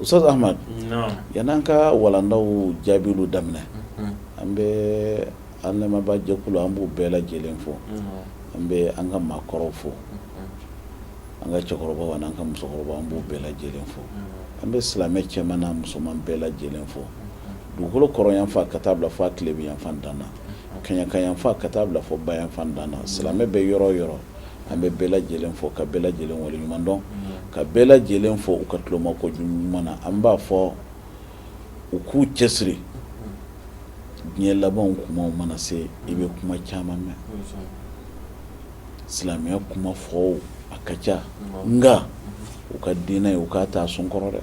ustazi amadu yani an ka walandaw jaabi daminɛ an bɛ an lamɛnbaajɛkulu an b'u bɛɛ lajɛlen fo an bɛ an ka maakɔrɔw fo an ka cɛkɔrɔba an ka musokɔrɔba an b'u bɛɛ lajɛlen fo an bɛ silamɛ cɛman ni musoman bɛɛ lajɛlen fo dugukolo kɔrɔnyanfan ka taa bila fo a tilebinyanfan dan na na kɛɲɛkayanfan ka taa bila fo bayanfan dan na na silamɛ bɛ yɔrɔ o yɔrɔ an bɛ bɛɛ lajɛlen fo ka bɛɛ lajɛlen waleɲumandɔn ka bɛɛ lajɛlen fo u ka tulomajɔ ɲuman na an b'a fɔ u k'u cɛsiri diɲɛ laban tuma mana se i bɛ kuma caman mɛn silamɛya kuma fɔbaa ka ca nka u ka diinɛ ye u k'a ta sun kɔrɔ dɛ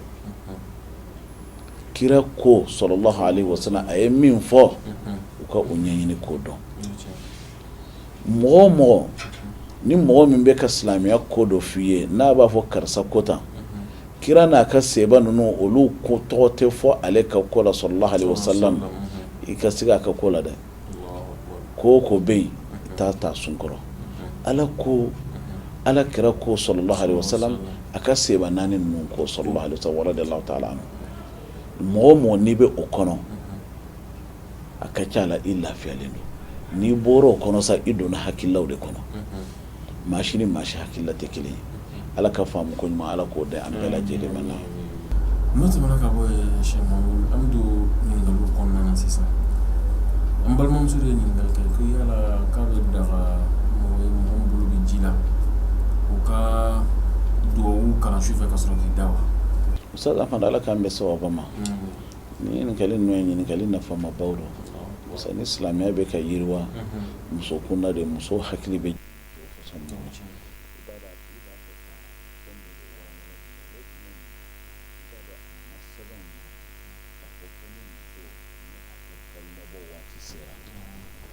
kira ko salalahu alayhi wasalam a ye min fɔ u ka o ɲɛɲini k'o dɔn mɔgɔ o mɔgɔ ni mɔgɔ min bɛ ka silamɛya ko dɔ f'i ye n'a b'a fɔ karisa ko tan kira n'a ka sahaba ninnu olu ko tɔgɔ tɛ fɔ ale ka ko la salalahu alayhi wasalam i ka se a ka ko la dɛ ko o ko bɛ yen taa a ta sun kɔrɔ ala ko ala kira ko salalahu alayhi wasalam a ka sahaba naani ninnu ko sɔsɔli t'a la mɔgɔ o mɔgɔ n'i bɛ o kɔnɔ a ka ca la i lafiyalen don n'i bɔra o kɔnɔ sa i donna hakililaw de kɔnɔ maa si ni maa si hakilila tɛ kelen ye ala ka faamu ko ɲuman ala k'o di an bɛɛ lajɛlen ma na n'o tɛmɛna ka bɔ sa an bɛ don ɲininkaliw kɔnɔna na sisan an balimamuso de ye ɲininkali kɛ ko yala k'a bɛ daga mɔgɔ ye mɔgɔ min bolo bɛ ji la u ka dugawu kalan su fɛ ka sɔrɔ k'i da wa usa fana ala k'an bɛn sawaba ma Nin ɲininkali n'o ye ɲininkali nafamaba don parce ni silamɛya bɛ ka yiriwa muso kunda de muso hakili bɛ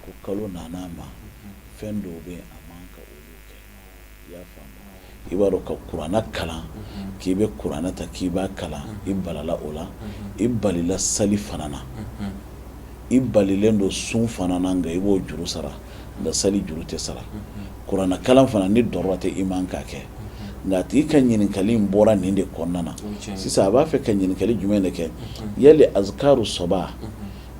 ko kalo nana a ma fɛn dɔw bɛ a man kan ka kɛ i b'a dɔn ka kuranɛ kalan k'i bɛ kuranɛ ta k'i b'a kalan i balila o la i balila sali fana na i balilen don sun fana na nka i b'o juru sara nka seli juru tɛ sara kuranɛ kalan fana nin daga tɛ i ma k'a kɛ nka a tigi ka ɲininkakali in bɔra nin de kɔnɔna na sisan a b'a fɛ ka ɲininkakali jumɛn de kɛ ya azkaru sabah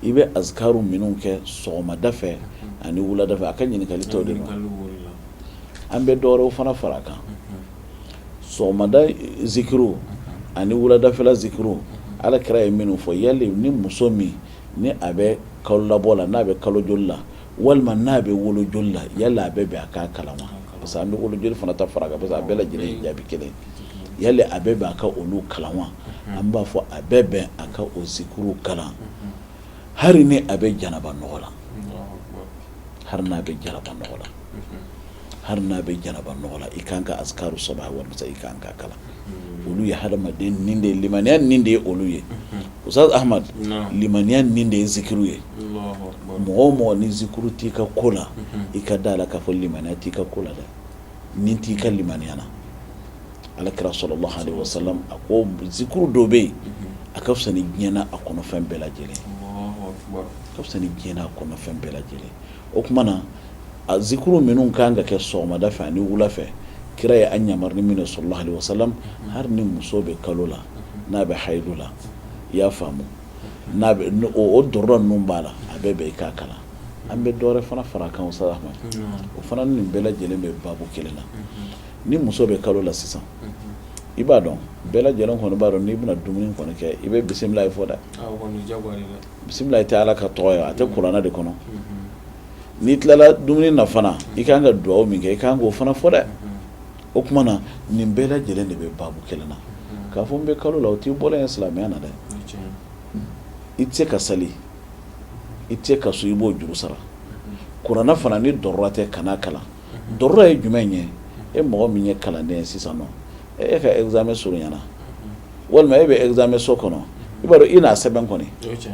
I bɛ azkaru minnu kɛ sɔgɔmada fɛ ani wulada fɛ a ka ɲininkakali taa o de ma an bɛ dɔwɛrɛw fana fara a kan sɔgɔmada zikiri ani wuladafɛla zikiri ala kira ye minnu fɔ yali ni muso min ni a bɛ kalolabɔ la n'a bɛ kalo joli la walima n'a bɛ wolo joli la yala a bɛ bɛn a ka kalan wa parce que an bɛ wolo joli fana ta fara parce que a bɛɛ lajɛlen jaabi kelen yala a bɛ bɛn a ka olu kalan wa an b'a fɔ a bɛ bɛn a ka o zikiri kalan hali ni a bɛ janaba nɔgɔ la hali n'a bɛ janaba nɔgɔ la hali n'a bɛ janaba nɔgɔ la i ka kan ka azkaru sabah wal i ka kan ka kalan olu ye hadamaden ni de ye limaniya ni de ye olu ye Usaz Ahmadu limaniya ni de ye zikiri ye mɔgɔ mɔgɔ ni zikiri t'i ka ko la i ka da a la k'a fɔ limaniya t'i ka ko la dɛ ni t'i ka limaniya na ala kira sallallahu alayhi wa sallam a ko zikiri dɔ bɛ yen a ka fisa ni diɲɛ n'a kɔnɔfɛn bɛɛ lajɛlen ka fisa ni diɲɛ n'a kɔnɔfɛn bɛɛ lajɛlen o tuma na a zikiri minnu ka kan ka kɛ sɔgɔmada fɛ ani wula fɛ kira ye an yamaruya ni min ye sallallahu alayhi wa sallam hali ni muso bɛ kalo la n'a bɛ haydu la i y'a faamu n'a o dɔrɔn ninnu b'a la a bɛ bɛn i k'a kalan an bɛ dɔwɛrɛ fana fara a kan sa ma o fana nin bɛɛ lajɛlen bɛ baabu kelen na ni muso bɛ kalo la sisan i b'a dɔn bɛɛ lajɛlen kɔni b'a dɔn n'i bɛna dumuni kɔni kɛ i bɛ bisimilahi fɔ dɛ bisimilahi tɛ ala ka tɔgɔ ye a tɛ kuranɛ de kɔnɔ n'i tilala dumuni na fana i ka kan ka dugawu min kɛ i ka kan k'o fana fɔ dɛ o tuma na nin bɛɛ lajɛlen de bɛ baabu kelen na k'a fɔ n bɛ kalo la o t'i bɔra ye silamɛya na dɛ i tɛ se ka sali i tɛ se ka sun i b'o juru sara kuranɛ fana ni darura tɛ kan'a kalan darura ye jumɛn ye e mɔgɔ min ye kalanden ye sisan nɔ e ka examen surunyana walima e bɛ examen so kɔnɔ i b'a dɔn i n'a sɛbɛn kɔni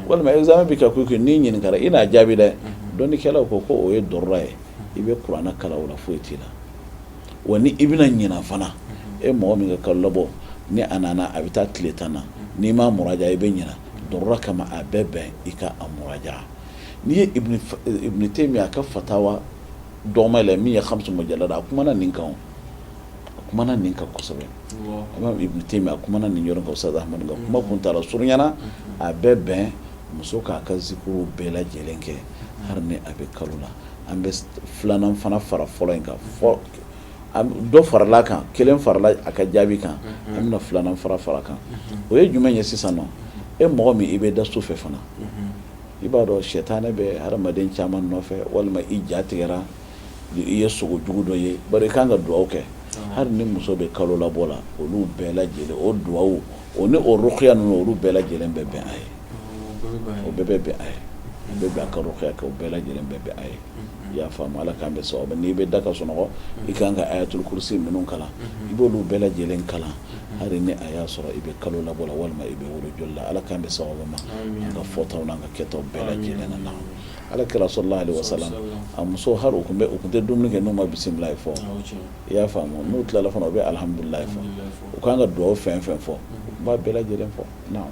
walima examen bɛ ka kɛ n'i ɲininka i n'a jaabi dɛ dɔnnikɛlaw ko ko o ye darura ye i bɛ kuranɛ kalan foyi t'i la wa ni i bɛna ɲinɛ fana e mɔgɔ min ka kalolabɔ ni a nana a bɛ taa tile tan na n'i ma muraja'a i bɛ ɲinɛ darura kama a bɛ bɛn i ka a muraja'a n'i ye Taymiya ka fatawa dɔgɔman na min ye Hamsu Mujallada ye a kumana nin kan o a kumana nin kan kosɛbɛ imam Ibn Taymiya kumana nin yɔrɔ kan Usaz Ahmadu ka kuma kuntaala surunyana a bɛ bɛn muso k'a ka zikiriw bɛɛ lajɛlen kɛ hari ni a bɛ kalo la an bɛ filanan fana fara fɔlɔ in kan fɔ dɔ faral'a kan kelen farala a ka jaabi kan an bɛna filanan fana fara a kan o ye jumɛn ye sisan nɔ e mɔgɔ min i bɛ da su fɛ fana i b'a dɔn sɛtanɛ bɛ hadamaden caman nɔfɛ walima i ja tigɛra i ye sugo jugu dɔ ye bari i ka kan ka dugawu kɛ hali ni muso bɛ kalolabɔ la olu bɛɛ lajɛlen o dugawu o ni o ruqya ninnu olu bɛɛ lajɛlen bɛ bɛn a ye o bɛɛ bɛ bɛn a ye a bɛ bɛn a ka ruqya kɛ o bɛɛ lajɛlen bɛ bɛn a ye i y'a faamu Ala k'an bɛn sawaba ma n'i bɛ da ka sunɔgɔ i ka kan ka ayatul kurusi ninnu kalan i b'olu bɛɛ lajɛlen kalan hali ni a y'a sɔrɔ i bɛ kalo labɔ la walima i bɛ wolo joli la Ala k'an bɛn sawaba ma an ka fɔtaw n'an ka kɛtaw bɛɛ lajɛlen na naam Ala kira sala Lahu alehi wasalamu a musow hali u tun bɛ u tun tɛ dumuni kɛ n'u ma bisimilahi fɔ i y'a faamu n'u tilala fana u bɛ alihamudulilahi fɔ u ka kan ka dugawu fɛn o fɛn fɔ u b'a bɛɛ lajɛlen fɔ naam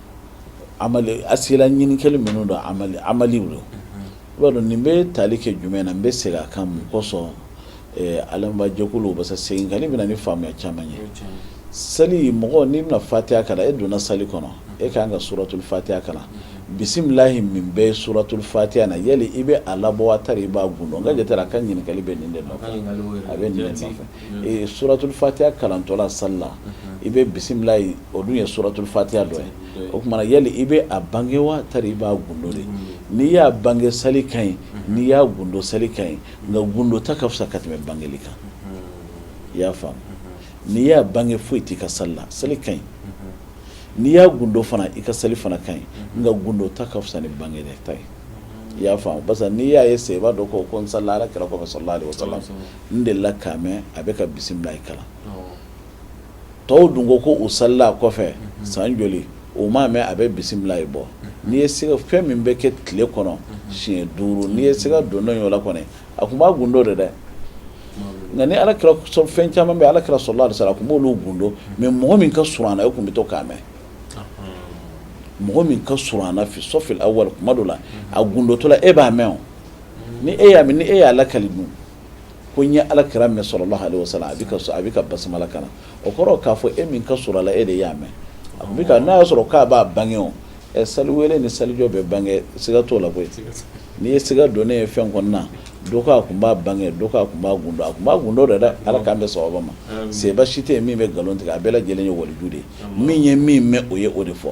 a sera ɲininkali minnu don amadu don i b'a dɔn nin bɛ taali kɛ jumɛn na n bɛ segin a kan mun kosɔn alajɛkulu parce seginkanni bɛ na ni faamuya caman ye sali mɔgɔ n'i bɛna fatiya kalan e donna sali kɔnɔ e ka kan ka suratul fatiya kalan bisimilahi min bɛ suratul fatiya na yali i bɛ a labɔ wa tari i b'a gundo n ka a ka ɲininkali bɛ nin de a bɛ ye suratul fatiya kalantɔla sali la i bɛ bisimila ye o dun ye suratul fatiya dɔ ye o tuma na yali i bɛ a bange wa tari i b'a gundo de n'i y'a bange sali ka ɲi n'i y'a gundo sali ka ɲi nka gundo ta ka fisa ka tɛmɛ bange kan i y'a faamu n'i y'a bange foyi tɛ i ka sali la sali ka ɲi n'i y'a gundo fana i ka sali fana ka ɲi nka gundo ta ka fisa ni bange ta ye i y'a faamu parce que n'i y'a ye sahaba dɔ ko k'o salila Ala kira kɔfɛ n delila k'a mɛn a bɛ ka bisimilahi kalan tɔw dun ko ko o salila a kɔfɛ san joli o m'a mɛn a bɛ bisimilahi bɔ n'i ye sali fɛn min bɛ kɛ tile kɔnɔ siɲɛ duuru n'i ye siga don dɔ yɔrɔ kɔnɔ a tun b'a gundo de dɛ nka ni ala fɛn caman bɛ ala kira sala Lahu alehi wasalamu a tun b'olu gundo mɛ mɔgɔ min ka surun a la e tun bɛ to k'a mɛn mɔgɔ min ka surun a la fi safili awali kuma dɔ la a gundotɔla e b'a mɛn o ni e y'a mɛn ni e y'a lakali dun ko n ye ala kira mɛn sala Lahu alehi wasalamu a bɛ a bɛ ka basimala kalan o kɔrɔ k'a fɔ e min ka surun a la e de y'a mɛn a bɛ n'a y'a sɔrɔ k'a b'a bange o ɛ sali wele ni salijɔ bɛ bange siga t'o la koyi n'i ye siga don ne ye fɛn kɔnɔna na dɔ ko a tun b'a bange dɔ ko a tun b'a gundo a tun b'a gundo de dɛ ala k'an bɛn sawaba ma sahaba si tɛ yen min bɛ nkalon tigɛ a bɛɛ lajɛlen ye waliju de ye min ye min mɛn o ye o de fɔ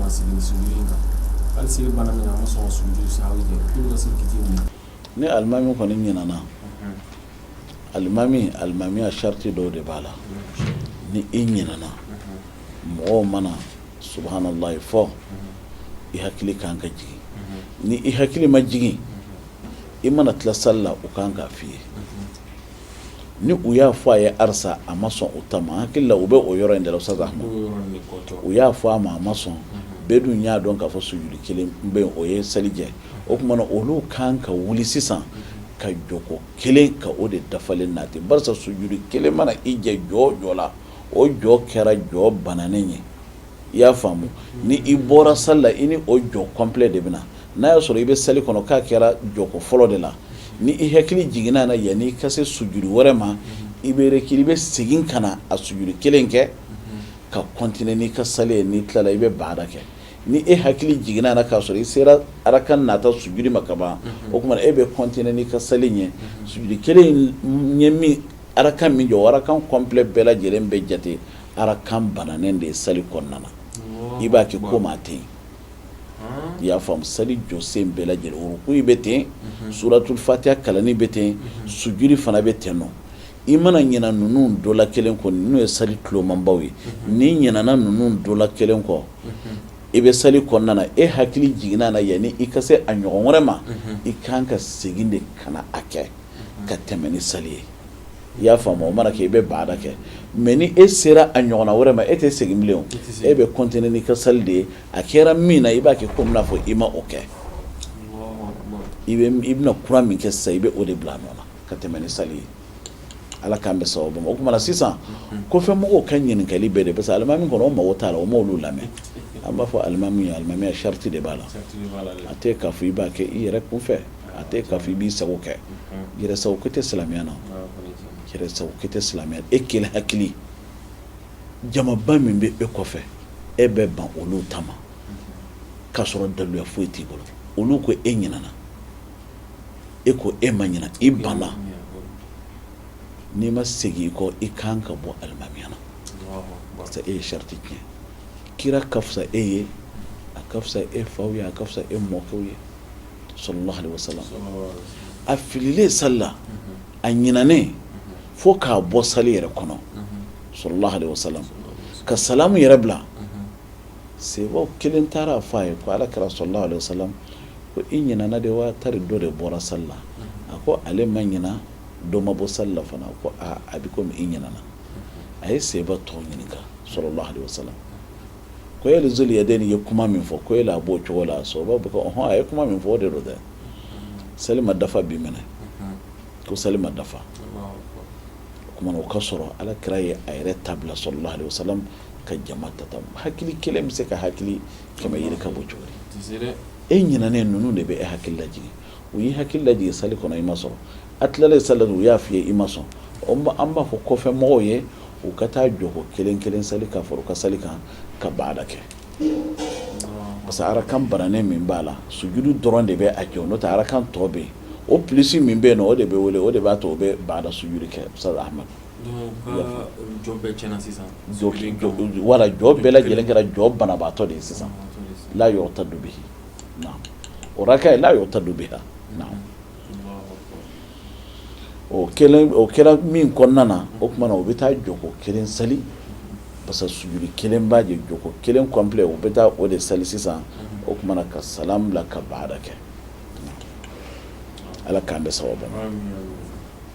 Ni alimami kɔni ɲinɛna alimami alimamiya sarati dɔw de b'a la ni i ɲinɛna mɔgɔw mana subahanalahi fɔ i hakili ka kan ka jigin ni i hakili ma jigin i mana tila sali la u ka kan k'a f'i ye ni u y'a fɔ a ye barisa a ma sɔn o taama hakili la u bɛ o yɔrɔ de la sisan u y'a fɔ a ma a ma sɔn bɛɛ dun y'a dɔn k'a fɔ sujudu kelen bɛ o ye sali jɛ o tuma na olu kan ka wuli sisan ka jɔko kelen ka o de dafalen nati barisa sujudu kelen mana i jɛ jɔ jɔ la o jɔ kɛra jɔ bananen ye i y'a faamu ni i bɔra sali la i ni o jɔ kɔnplɛ de bɛ n'a y'a sɔrɔ i bɛ seli kɔnɔ k'a kɛra jɔko fɔlɔ de la ni i hakili jiginna a la yanni i ka se sujuru wɛrɛ ma i bɛ ki i bɛ segin ka na a sujuru kelen kɛ ka kɔntine n'i ka sali ye n'i tilala i bɛ baada kɛ ni e hakili jiginna a la k'a sɔrɔ i sera araka nata sujuru ma kaban o tuma e bɛ kɔntine n'i ka sali ye su kelen ɲɛ min araka min jɔ arakan kɔnplɛ bɛɛ lajɛlen bɛ jate Arakan binnen de ye sali kɔnɔna na i b'a kɛ komi a tɛ yen i y'a faamu sali jɔsen bɛɛ lajɛlen ko i bɛ ten suratu fatiya kalanni bɛ ten sujuru fana bɛ ten ni i mana ɲina ninnu dɔ la kelen kɔ n'o ye sali tulomabaw ye n'i ɲinana ninnu dɔ la kelen kɔ i bɛ sali kɔnɔna e hakili jiginna a la yanni i ka se a ɲɔgɔn wɛrɛ ma i kan ka segin de ka a kɛ ka tɛmɛ ni sali ye i y'a faamu o mana kɛ i bɛ baada kɛ mɛ ni e sera a ɲɔgɔn wɛrɛ ma e tɛ segin bilen e bɛ kɔntine n'i ka sali de ye a kɛra min na i b'a kɛ ko i b'a fɔ i ma o kɛ i bɛna kura min kɛ sa i bɛ o de bila a nɔ ka tɛmɛ ni sali ye ala k'an bɛ sababu o tuma na sisan kɔfɛ mɔgɔw ka ɲininkali bɛɛ de parce que alimami kɔnɔ mɔgɔw t'a la o ma olu lamɛn an b'a fɔ alimami alimami sariti de b'a la a tɛ k'a fɔ i b'a kɛ i yɛrɛ kun fɛ A tɛ k'a fɔ i b'i sago kɛ yɛrɛ sago ko tɛ silamɛya na yɛrɛ sago ko tɛ silamɛya e kelen hakili jamaba min bɛ e kɔfɛ e bɛ ban olu ta k'a sɔrɔ daluya foyi t'i bolo olu ko e ɲinana e ko e ma ɲina e ban n'i ma segin i kɔ i kan ka bɔ alimamiya la e ye sariyati tiɲɛ kira ka fisa e ye a ka fisa e fa ye a ka fisa e mɔkɛw ye sɔrɔlasa a fililen sala a ɲinɛnen fo k'a bɔ sa yɛrɛ kɔnɔ sɔrɔlasa ka samu yɛrɛ bila se kelen taara fɔ a ye ko ala kɛra sɔrɔlasa ko i ɲin de wa ta dɔ de bɔra sa la a ko ale ma ɲin dɔ ma bɔ sala fana ko a bɛ i ɲin a ye se tɔw ɲini sɔrɔlasa ko yala zuli yadeni ye kuma min fɔ ko yala a b'o cogo la sahabaw ko ɔnhɔn a ye kuma min fɔ o de don dɛ sali ma dafa bi minɛ ko sali ma dafa tuma o ka sɔrɔ ala kira ye a yɛrɛ ta bila salalahu alayhi wa salam ka jama ta ta hakili kelen bɛ se ka hakili kɛmɛ yiri ka bɔ cogo e ɲinanen ninnu de bɛ e hakili laj u y'i hakili lajigin sali kɔnɔ i ma sɔn, a tilalen sali la u y'a fɔ i ye i ma sɔn, an b'a fɔ kɔfɛ mɔgɔw ye u ka taa jɔko kelen kelen sali ka fara u ka sali kan ka baada kɛ parce que arakan bananen min b'a la sujudu dɔrɔn de bɛ a jɛ n'o tɛ arakan tɔ bɛ yen o plus min bɛ yen nɔ o de bɛ wele o de b'a to o bɛ baada sujudu kɛ Ustaz Ahmadu voilà jɔ bɛɛ lajɛlen kɛra jɔ banabaatɔ de ye sisan la yu'tadu bihi o raka ye la yu'tadu biha o o kɛra min kɔnɔna na o tuma u bɛ taa jɔko kelen seli parce que sujudu kelen b'a jɛ jɔko kelen complet u bɛ taa o de seli sisan o tuma ka salamu bila ka baada kɛ ala k'an bɛɛ saba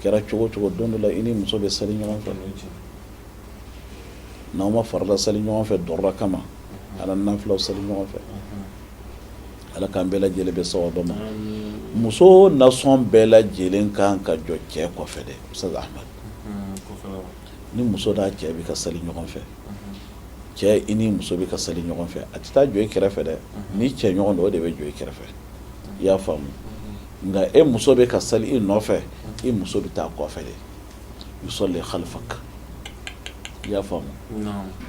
kɛra cogo cogo don dɔ la i ni muso bɛ seli ɲɔgɔn fɛ n'aw ma farida seli ɲɔgɔn fɛ dɔra kama ala nafila seli ɲɔgɔn fɛ ala k'an bɛɛ lajɛlen bɛ sa dɔ ma muso nasɔn bɛɛ lajɛlen kan ka jɔ cɛ kɔfɛ dɛ ni muso n'a cɛ bɛ ka seli ɲɔgɔn fɛ cɛ i ni muso bɛ ka seli ɲɔgɔn fɛ a tɛ taa jɔ i kɛrɛfɛ dɛ ni cɛ ɲɔgɔn don o de bɛ jɔ i kɛrɛfɛ i y'a faamu nka e muso bɛ ka seli i nɔfɛ i muso bɛ taa kɔfɛ de yusalli khalfaka i y'a faamu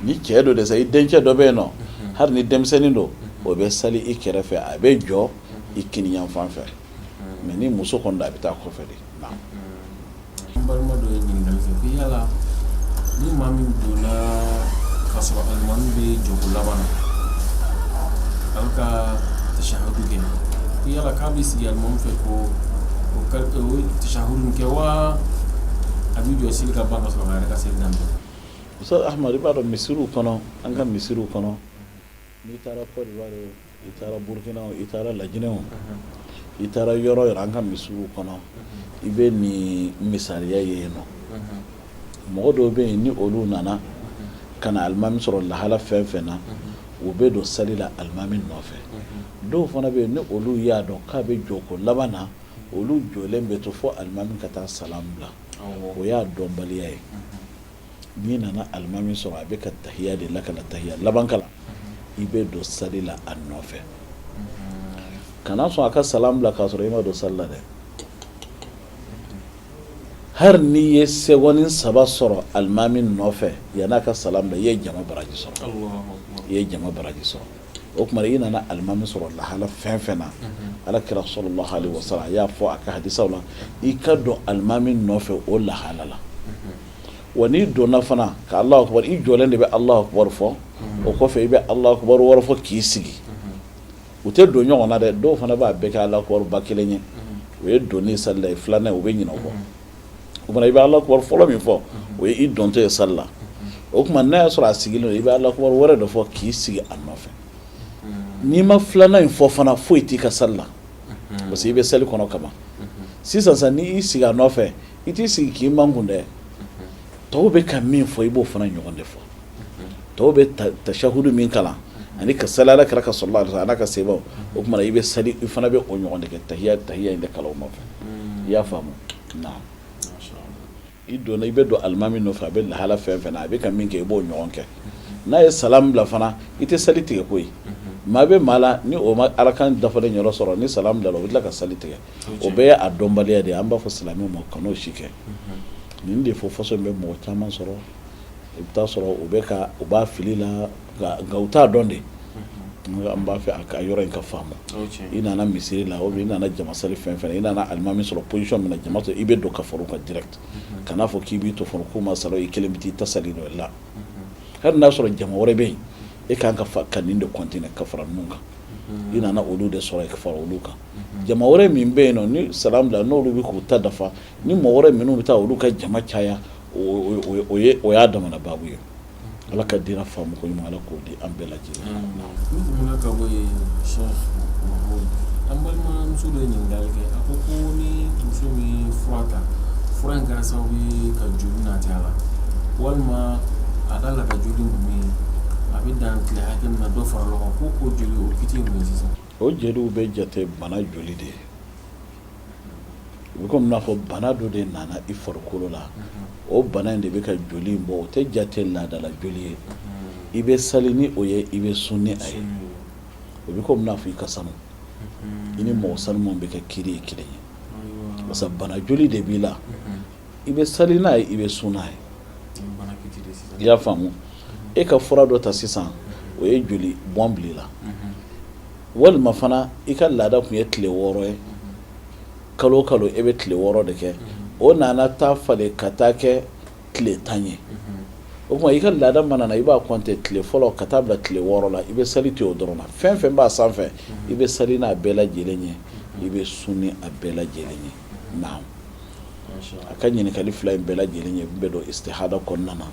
ni cɛ don dɛ sa i dencɛ dɔ bɛ yen nɔ hali ni denmisɛnnin don o bɛ seli i kɛrɛfɛ a bɛ jɔ i kiniyanfan fɛ mais ni muso kɔni don a bɛ taa kɔfɛ de Balima dɔ ye ɲininkali kɛ ko yala ni maa min donna ka sɔrɔ alimami bɛ jɔko laban na a bɛ ka tashahudu kɛ ko yala k'a bɛ sigi alimami fɛ ko o ka o tashahudu kɛ wa a bɛ jɔ seli ka ban ka sɔrɔ a yɛrɛ ka seli daminɛ. Ustaz Ahmadu i b'a dɔn misiriw kɔnɔ an ka misiriw kɔnɔ n'i taara Côte d'Ivoire i taara burukina i taara laginɛ o i taara yɔrɔ yɔrɔ an ka misiriw kɔnɔ i bɛ nin misaliya ye yen nɔ mɔgɔ dɔw bɛ yen ni olu nana ka na alimami sɔrɔ lahala fɛn fɛn na u bɛ don seli la alimami nɔfɛ dɔw fana bɛ yen ni olu y'a dɔn k'a bɛ jɔko laban na olu jɔlen bɛ to fɔ alimami ka taa salam bila o y'a dɔnbaliya ye n'i nana alimami sɔrɔ a bɛ ka tahiya de la ka na tahiya laban kalan i bɛ don sali la a nɔfɛ kana sɔn a ka salam bila k'a sɔrɔ i ma don sali la dɛ hali n'i ye seconde saba sɔrɔ alimami nɔfɛ yanni a ka salam bila i ye jama baraji sɔrɔ i ye jama baraji sɔrɔ o tuma i nana alimami sɔrɔ lahala fɛn fɛn na ala kira sɔlɔlahu alehi wa salam a y'a fɔ a ka hadisiw la i ka don alimami nɔfɛ o lahala la. wa n'i donna fana k' ala i jɔlen de bɛ alahu akibaru fɔ o kɔfɛ i bɛ alahu akibaru fɔ k'i sigi u tɛ don ɲɔgɔn na dɛ dɔw fana b'a bɛɛ kɛ alahu akibaru kelen ye o ye don sali ye filanan u bɛ ɲinɛ a kɔ o i bɛ ala fɔlɔ min fɔ o ye i dontɔ ye sali la o tuma n'a y'a sɔrɔ a sigilen don i bɛ ala wɛrɛ dɔ fɔ k'i sigi a nɔfɛ n'i ma filanan in fɔ fana foyi t'i ka sali la parce que i bɛ seli kɔnɔ kaban sisan n'i sigi a nɔfɛ I t'i sigi k'i makun dɛ tɔw bɛ ka min fɔ i b'o fana ɲɔgɔn de fɔ tɔw bɛ tasahudu min kalan ani ka sali kira kan so la ala ka se o tuma i bɛ sa i fana bɛ o ɲɔgɔn de kɛ tahiya tahiya in de kalan ma fɛ i y'a faamu i donna i bɛ don alimami fɛ a bɛ lahala fɛn fɛn a bɛ ka min kɛ i b'o ɲɔgɔn kɛ n'a ye salamu bila fana i tɛ seli tigɛ ko maa bɛ maa la ni o ma araka dafa yɔrɔ sɔrɔ ni salamu bila o bɛ tila ka seli tigɛ o bɛɛ ye dɔnbaliya de an b'a fɔ silamɛ man kan ka fɛn si kɛ nin de fɔ parce que o bɛ mɔgɔ caman sɔrɔ i bɛ sɔrɔ u bɛ ka u bɛ fili la nka u t'a dɔn de an b'a fɛ a ka yɔrɔ in ka faamu i nana misiri la o i nana jamasali fɛn fɛn i nana alimami sɔrɔ position min na jama tɔ i bɛ don ka fara u kan jira kana n'a fɔ k'i b'i to fɔ ko ma sɔrɔ i kelen bɛ taa i ta sali dɔ i la hali n'a sɔrɔ jama wɛrɛ bɛ yen e ka kan ka ka nin de kɔnte ka fara ninnu kan i nana olu de sɔrɔ i ka fara olu kan jama wɛrɛ min bɛ yen nɔ ni salamu bila n'olu bɛ k'u ta dafa ni mɔgɔ wɛrɛ minnu bɛ taa olu ka jama caya o y'a damana baabu ye ala ka diinɛ faamu koɲuman ala k'o di an bɛɛ lajɛ lajɛlen an balimamuso dɔ ɲinini kɛ a ko ko ni muso min fura ta fura in kɛra sababu ye ka joli nati a la walima a ka laada joli ninnu ye a bɛ dan tile hakɛ min na dɔ fara o kan ko joli o kiti ye sisan o jeli o bɛ jate bana joli de ye o bɛ komi n'a fɔ bana dɔ de nana i farikolo la o bana in de bɛ ka joli in bɔ o tɛ jate laadala joli ye i bɛ sali ni o ye i bɛ sun ni a ye o bɛ komi n'a fɔ i ka sanu i ni mɔgɔ sanuman bɛɛ ka kiri ye kelen ye parce que bana joli de b'i la i bɛ sali n'a ye i bɛ sun n'a ye i y'a faamu e ka fura dɔ ta sisan o ye joli bɔn bila i la walima fana i ka laada tun ye tile wɔɔrɔ ye kalo kalo e bɛ tile wɔɔrɔ de kɛ o nana taa falen ka taa kɛ tile tan ye o tuma i ka laada mana na i b'a kɔnte tile fɔlɔ ka taa bila tile wɔɔrɔ la i bɛ sali to o dɔrɔn na fɛn fɛn b'a sanfɛ i bɛ sali n'a bɛɛ lajɛlen ye i bɛ sun ni a bɛɛ lajɛlen ye a ka ɲininkali fila in bɛɛ lajɛlen ye bɛɛ don istihada kɔnɔna na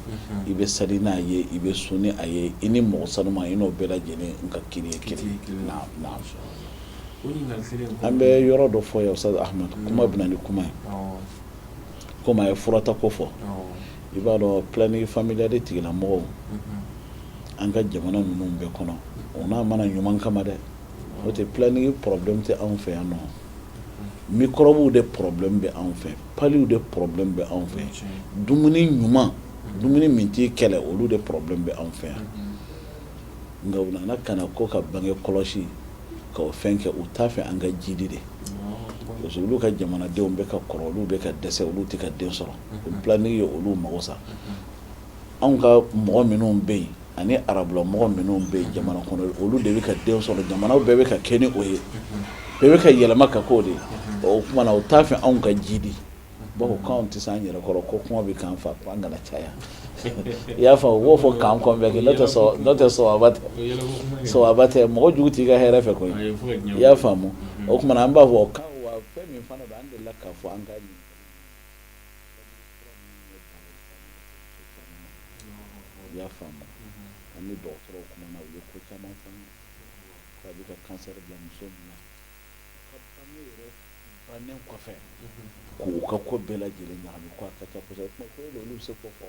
i bɛ sali n'a ye i bɛ sun n'a ye i ni mɔgɔ sanu i n'o bɛɛ lajɛlen n ka ki ki an bɛ yɔrɔ dɔ fɔ ye kuma bɛ ni kuma ye ko a ye furata ko fɔ i b'a dɔn planning familial tigila mɔgɔw an ka jamana ninnu bɛɛ kɔnɔ o ma na ɲuman kama dɛ o tɛ planning problème tɛ anw fɛ yan nɔ mikɔrɔbuw de problème bɛ anw fɛ palu de problème bɛ anw fɛ dumuni ɲuman dumuni min t'i kɛlɛ olu de problème bɛ anw fɛ yan nka u nana ka ko ka bange kɔlɔsi ka fɛn kɛ u t'a fɛ an ka jidi de parce que olu ka jamanadenw bɛ ka kɔrɔ olu bɛ ka dɛsɛ olu tɛ ka den sɔrɔ bilen ye olu mago sa anw ka mɔgɔ minnu bɛ yen ani arabula mɔgɔ minnu bɛ yen jamana kɔnɔ olu de bɛ ka den sɔrɔ jamana bɛɛ bɛ ka kɛ ni o ye bɛɛ bɛ ka yɛlɛma ka k'o de ye o tuma na u t'a fɛ anw ka jidi bawo anw tɛ se an yɛrɛkɔrɔ ko kɔngɔ bɛ k'an faga ko an kana caya i y'a fɔ b'o fɔ kan kɔn bɛɛ kɛ n'o tɛ sɛbɛ tɛ sɛbɛ tɛ mɔgɔ jugu t'i ka hɛrɛ fɛ koyi i y'a faamu o tuma na an b'a fɔ' fɔ an ka I y'a faamu ani dɔgɔtɔrɔw kumana u ye ko caman fɔ k'a bɛ ka kansɛri bila muso min na bannen kɔfɛ k'u ka ko bɛɛ lajɛlen ɲagami ka taa olu bɛ se k'o fɔ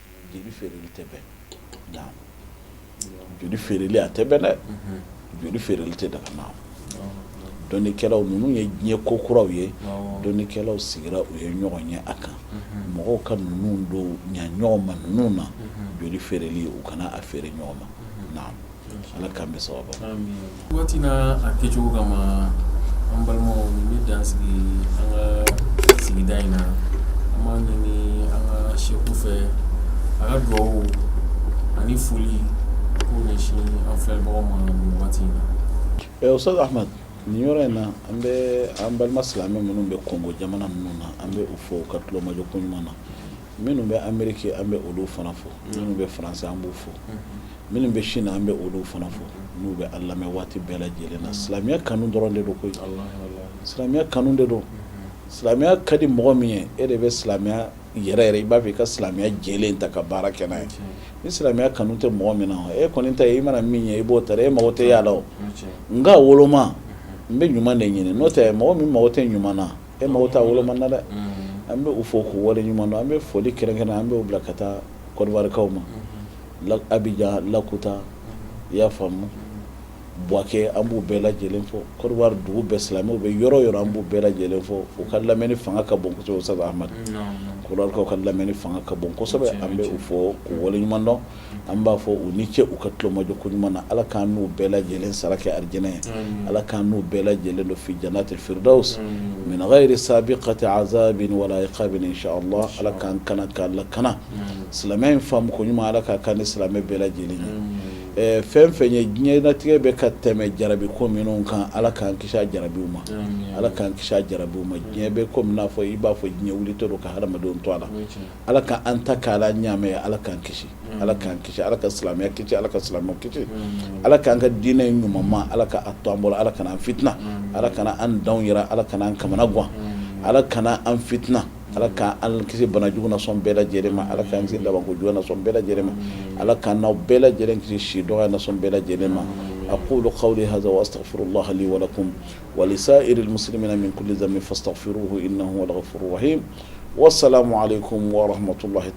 joli feereli tɛ bɛn joli feereli a tɛ bɛn dɛ joli feereli tɛ daga na dɔnnikɛlaw ninnu ye diɲɛ ko kuraw ye dɔnnikɛlaw sigira u ye ɲɔgɔn ye a kan mɔgɔw ka ninnu don ɲ ɲɔgɔn ma ninnu na joli feereli u kana a feere ɲɔgɔn ma Ala k'a bɛɛ sabati a kɛcogo ka ma an balima bɛ dan sigi an ka sigida in na an b'a ɲini an ka segu fɛ a ka dugawu ani foli ko ɲɛsin an fɛ bɔ ma waati in na o sɔrɔ a nin yɔrɔ in na an bɛ an balima silamɛ minnu bɛ kɔngo jamana minnu na an bɛ u fo u ka tulomajɔ ko ɲuman na minnu bɛ ameriki an bɛ olu fana fo minnu bɛ faransi an b'u fo Minnu bɛ sin na an bɛ olu fana fo n'u bɛ an lamɛn waati bɛɛ lajɛlen na silamɛya kanu dɔrɔn de don ko silamɛya kanu de don silamɛya ka di mɔgɔ min ye e de bɛ silamɛya yɛrɛ yɛrɛ i b'a fɛ i ka silamɛya jɛ ta ka baara kɛ ye ni silamɛya kanu tɛ mɔgɔ min na e kɔni ta i mana min ye i b'o ta e mago tɛ a la nka woloma n'i bɛ ɲuman de ɲini n'o tɛ mɔgɔ min mago tɛ ɲuman na e mago t'a woloma na dɛ an b'u fo ko waleɲumandɔn an bɛ foli kɛrɛnkɛrɛnnen an bɛ' bila ka taa kɔdiwarikaw ma Abijan Lakota i y'a faamu Buwakɛ an b'u bɛɛ lajɛlen fo Kɔdiwari dugu bɛɛ silamɛ u bɛ yɔrɔ yɔrɔ an b'u bɛɛ lajɛlen fo u ka lamɛn fanga ka bon kosɛbɛ a amadu kɔrɔkaw ka lamɛn fanga ka bon kosɛbɛ an bɛ u fo u wale ɲuman dɔn an b'a fɔ u ni ce u ka tulomajɔ ko ɲuman na ala k'an n'u bɛɛ lajɛlen sara kɛ arijinɛ ye ala k'an n'u bɛɛ lajɛlen don fi janatil firidawsi min gayiri sabikati azabin wala itabin inshala ala k'an kana k'an lakana silamɛya in faamu ko ɲuman ala k'a kɛ an ni silamɛ bɛɛ lajɛlen ye fɛn o fɛn ye diɲɛlatigɛ bɛ ka tɛmɛ jarabi ko minnu kan ala k'an kisi jarabiw ma ala k'an kisi jarabiw ma diɲɛ bɛ ko n'a fɔ i b'a fɔ diɲɛ wulitɔ don ka hadamadenw to a la ala ka an ta k' ala ɲamɛ ye ala k'an kisi ala k'an kisi ala ka silamɛya kisi ala ka silamɛ kisi ala k'an ka diinɛ in ɲuman ma ala k'a to an bolo ala kana an fitina ala kana an da yɛrɛ ala kana an kamanagan ala kana an fitina Ala k' an kisi bana jugu nasɔn bɛɛ lajɛlen ma ala k'an kisi labanko jugu nasɔn bɛɛ lajɛlen ma ala k'an n'aw bɛɛ lajɛlen kisi si dɔgɔ nasɔn bɛɛ lajɛlen ma akulu kawli haza wa astagfirulaha li wa lakum wa lisa'iril muslimina min kuli zanbin fastagfiruhu inahu huwal gafuru rahim wa salamu alekum wa rahmatulahi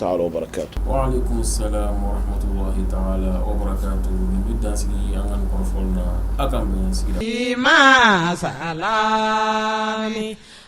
ma sa